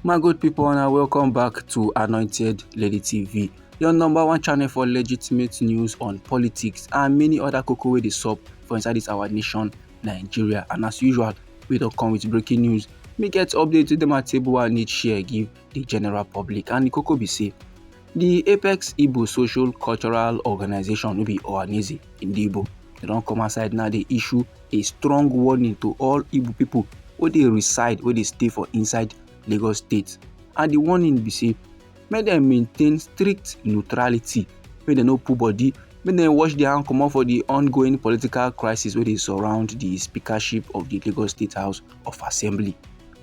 my good people and welcome back to anointed lady tv your number one channel for legitimate news on politics and many other cocoa wey dey sup for inside this our nation nigeria and as usual we don't come with breaking news make get update to them at table and need share give the general public and the koko be say the apex igbo social cultural organization no be ohaneze in the igbo they don come outside now dey issue a strong warning to all igbo people wey dey reside wey dey stay for inside lagos state and the warning be say make dem maintain strict neutrality make dem no put body make dem wash their hand comot for the ongoing political crisis wey dey surround the speakership of the lagos state house of assembly.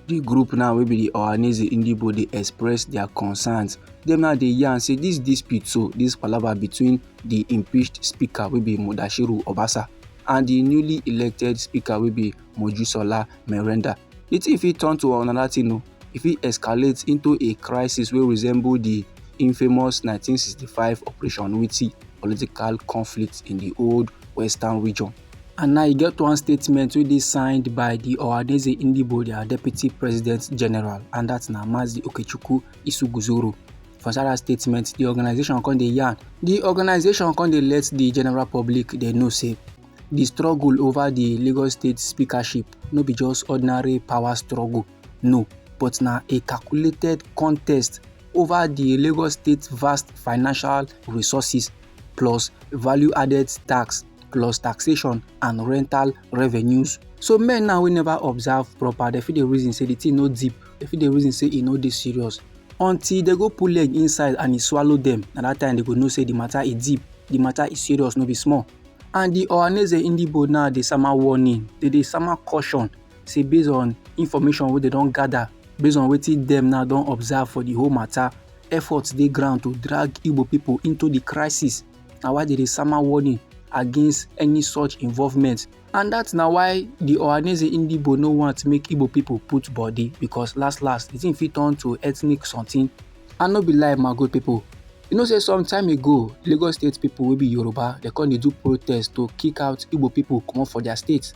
di group now wey be di ohaneze indibo dey express dia concerns dem now dey yarn say dis dispute so dis palava between di impeached speaker wey be mudashiru obasa and di newly elected speaker wey be mojusola merenda di tin fit turn to another tin o e fit escalate into a crisis wey resemble di infamous 1965 operation witi political conflict in di old western region And now e get one statement wey dey signed by the Ohanaeze Ndigbo, their deputy president general, and that's na Mazi Okechukwu Isuguzoro. For inside that statement, the organization come dey yarn. The organization come dey let the general public dey know say the struggle over the Lagos State speakership no be just ordinary power struggle, no, but na a calculated contest over the Lagos State vast financial resources plus value-added tax plus taxation and rental revenues so men now wey never observe proper dem fit dey reason say the thing no deep dem fit dey reason say e no dey serious until dem go put leg inside and e swallow dem na that time dem go know say the matter e deep the matter e serious no be small and the ohaneze indibo now dey sama warning dey dey sama caution say based on information wey dem don gather based on wetin dem now don observe for the whole matter efforts dey ground to drag igbo people into the crisis na why dem dey sama warning against any such involvement and that na why the Ohaneze Ndigbo no want make Igbo people put body because last last the thing fit turn to ethnic something and no be lie my good people you know say some time ago Lagos state people wey be Yoruba they come dey do protest to kick out Igbo people comot for their state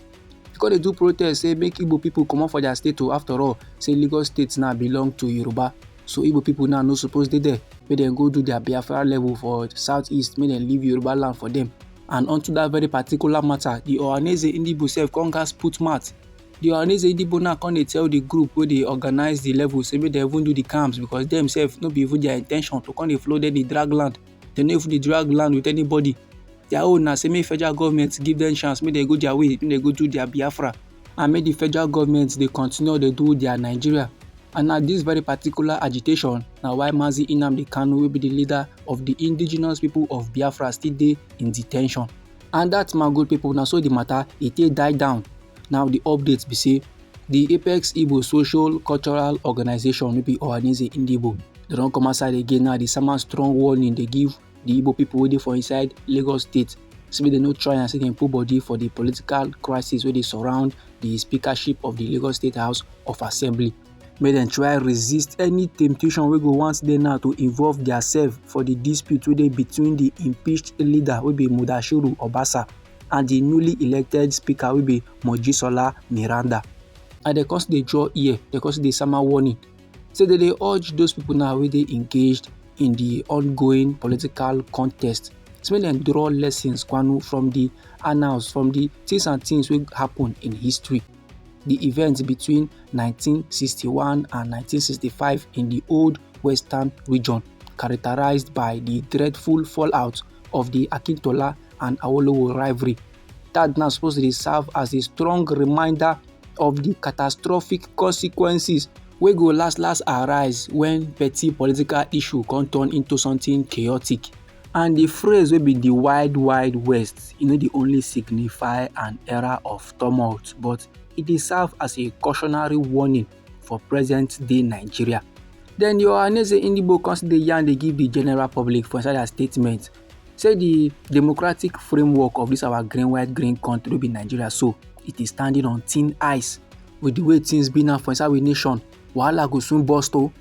they come dey do protest say make Igbo people comot for their state o oh, after all say Lagos state now belong to Yoruba so igbo people now no suppose dey there make dem go do their biafra level for southeast make dem leave yoruba land for them and unto that very particular matter the ohaneze indibo sef come gas put mouth the ohaneze indibo now come dey tell the group wey dey organize the level say make dem even do the camps because dem sef no be even their intention to come dey flow dem dey drag land dem no even dey drag land with anybody their own na say make federal government give them chance make dem go their way make dem go do their biafra and make the federal government dey continue dey do their nigeria and na this very particular agitation na why mazi nnamdi kanu wey be the leader of the indigenous people of biafra still dey in detention and dat man good people na so the matter e take die down now the update be say the apex igbo social cultural organization no be ohaneze indibo dem don come outside again now dey sama strong warning dey give the igbo people wey dey for inside lagos state say make dem no try and say dem put body for the political crisis wey dey surround the speakership of the lagos state house of assembly make dem try resist any temptation wey go want dey now to involve diasef for di dispute wey dey between di impeached leader wey be mudashiru obasa and di newly elected speaker wey be mojisola meranda and dem come still dey draw ear dem come still dey sama warning say dem dey urge those pipo now wey dey engaged in di ongoing political contest so make dem draw lessons kwanu from di annals from di tins and tins wey happun in history di events between 1961 and 1965 in di old western region characterised by di dreadful fallout of di akintola and awolowo rivalry dat na suppose to dey serve as a strong reminder of di catastrophic consequences wey go last last arise wen petty political issue come turn into something chaotic. And the phrase wey be the wide wide west e no dey only signify an era of tumult but e dey serve as a cautionary warning for present day Nigeria. Then the Ohaneze Ndigbo come still dey yarn dey give the general public for inside their statement say the democratic framework of this our green white green country wey be Nigeria so it is standing on thin ice with the way things be now for inside we nation wahala go soon burst o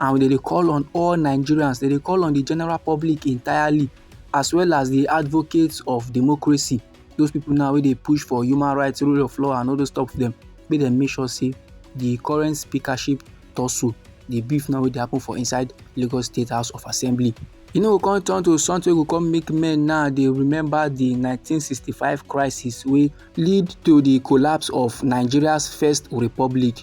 and we dey dey call on all nigerians dey dey call on the general public entirely as well as the advocates of democracy those people now wey dey push for human rights rule of law and all those stuff dem make dem make sure say the current speakership tussle the beef now wey dey happen for inside lagos state house of assembly e no go come turn to something wey go come make men now dey remember the 1965 crisis wey lead to the collapse of nigeria's first republic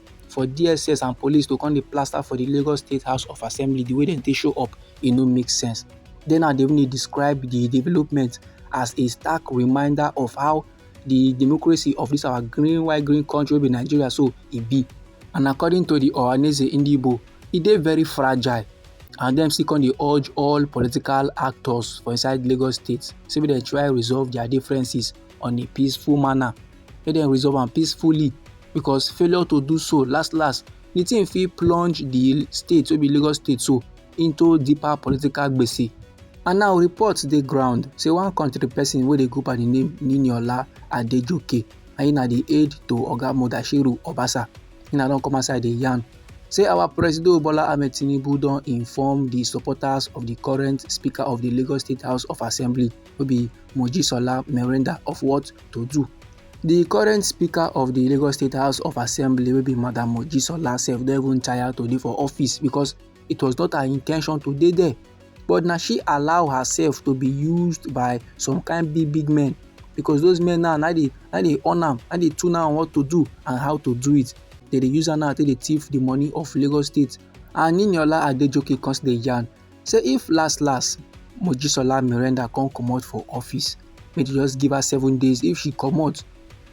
for dss and police to come dey plaster for the lagos state house of assembly the way dem take show up e no make sense Then now they even describe the development as a stark reminder of how the democracy of this our green white green country be nigeria so e be and according to the ohaneze indibo e dey very fragile and dem still come dey urge all political actors for inside lagos state say make dem try resolve their differences on a peaceful manner make dem resolve am peacefully because failure to do so last last the thing fit plunge the state wey be lagos state so into deeper political gbese and now reports dey ground say one country person wey dey go by the name niniola adejoke na him na the aide to oga mudashiru obasa him na don come outside dey yarn say our president bola ahmed tinubu don inform the supporters of the current speaker of the lagos state house of assembly wey be Mojisola Merenda of what to do. The current speaker of the Lagos State House of Assembly will be Madam Mojisola sef don even tire to dey for office because it was not her intention to dey there but now she allow herself to be used by some kind big big men because those men now na dey na dey on am na dey tune am what to do and how to do it they dey use am now take dey thief the money of Lagos State and Niniola Adejoke come still dey yarn say if last last mojisola merenda come comot for office make dem just give her seven days if she comot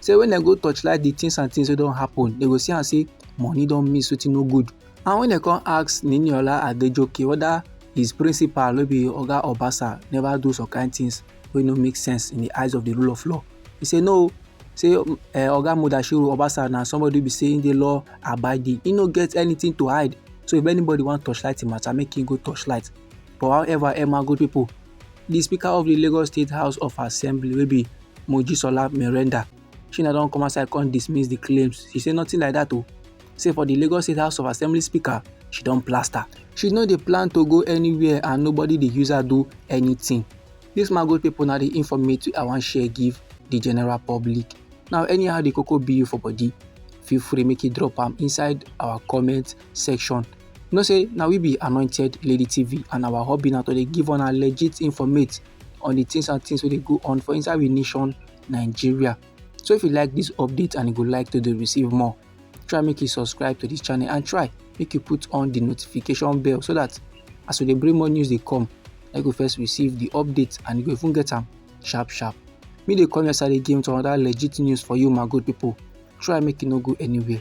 say when dem go torchlight the things and things wey don happen dem go see am say money don miss wetin no good and when dem come ask niniola adejoke whether his principal wey be oga obasa never do some kind things wey no make sense in the eyes of the rule of law he say no say um, eh, oga mudashiru obasa na somebody be saying the law abiding he no get anything to hide so if anybody wan torchlight the matter make him go torchlight but however emma good people the speaker of the lagos state house of assembly wey be mojisola merenda Shina don come outside come dismiss the claims. She say nothing like that oh. Say for the Lagos State House of Assembly speaker, she don plaster. She no dey plan to go anywhere and nobody dey use her do anything. This my good people na the informate I wan share give the general public. Now anyhow the cocoa be you for body, feel free make you drop am inside our comment section. You know say na we be Anointed Lady TV and our hobby na to dey give una legit informate on the things and things wey dey go on for inside we nation nigeria so if you like this update and you go like to dey receive more try make you subscribe to this channel and try make you put on the notification bell so that as we dey bring more news dey come na you go first receive the update and you go even get am sharp sharp me dey come your side again with another legit news for you my good people try make you no go anywhere